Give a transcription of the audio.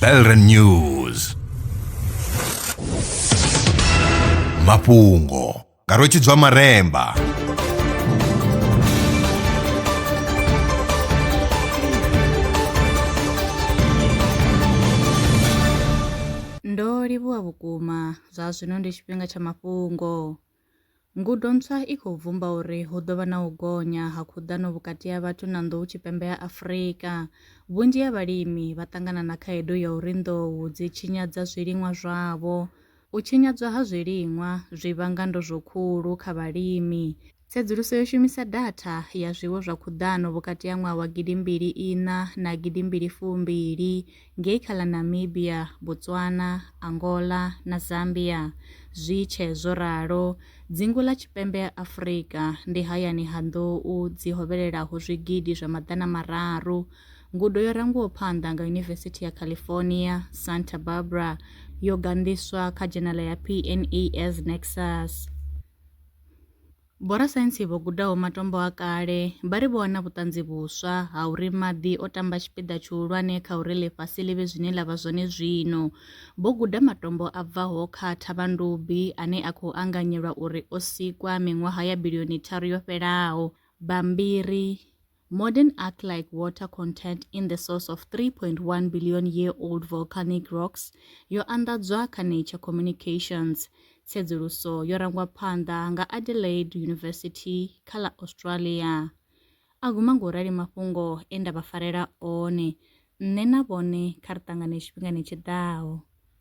Belren News mafhungo nga rwetshidzwa maremba ndo livhuwa vhukuma zwa zwino ndi tshifhinga tsha mafhungo Ngudo ntswa i khou bvumba uri hu ḓo vha na u gonya ha khuḓano vhukati ha vhathu na nḓou tshipembe ya Afrika. Vhunzhi ha vhalimi vha ṱangana na khaedu ya uri nḓou dzi tshinyadza zwiliṅwa zwavho. U tshinyadzwa ha zwiliṅwa zwi vhanga ndozwo khulu kha vhalimi. Tsedzuluso yo shumisa datha ya zwiwo zwa khuḓano vhukati ha ṅwaha wa gidimbili iṋa na gidimbili fumbili ngei kha ḽa Namibia, Botswana, Angola na Zambia. Zwi tshee zwo ralo, dzingu ḽa tshipembe ha Afrika ndi hayani ha nḓou dzi hovhelelaho zwigidi zwa maḓana mararu. Ngudo yo rangiwaho phanḓa nga Yunivesithi ya California, Santa Barbara yo ganḓiswa kha dzhenala ya PNAS Nexus. Vhorasaintsi vho gudaho matombo a kale vha ri vho wana vhuṱanzi vhuswa ha uri maḓi o tamba tshipiḓa tshihulwane kha uri ḽifhasi ḽi vhe zwine ḽa vha zwone zwino. Vho guda matombo a bvaho kha thavhandubi ane a khou anganyelwa uri o sikwa miṅwaha ya bilioni tharu yo fhelaho. Bammbiri. Modern arc-like water content in the source of 3.1 billion year old volcanic rocks yo anḓadzwa kha Nature Communications. Tsedzuluso yo rangwa phanḓa nga Adelaide University kha ḽa Australia. A guma ngo rali mafhungo e nda vha farela one. Nṋe na vhone kha ri ṱangane tshifhingani tshi ḓaho.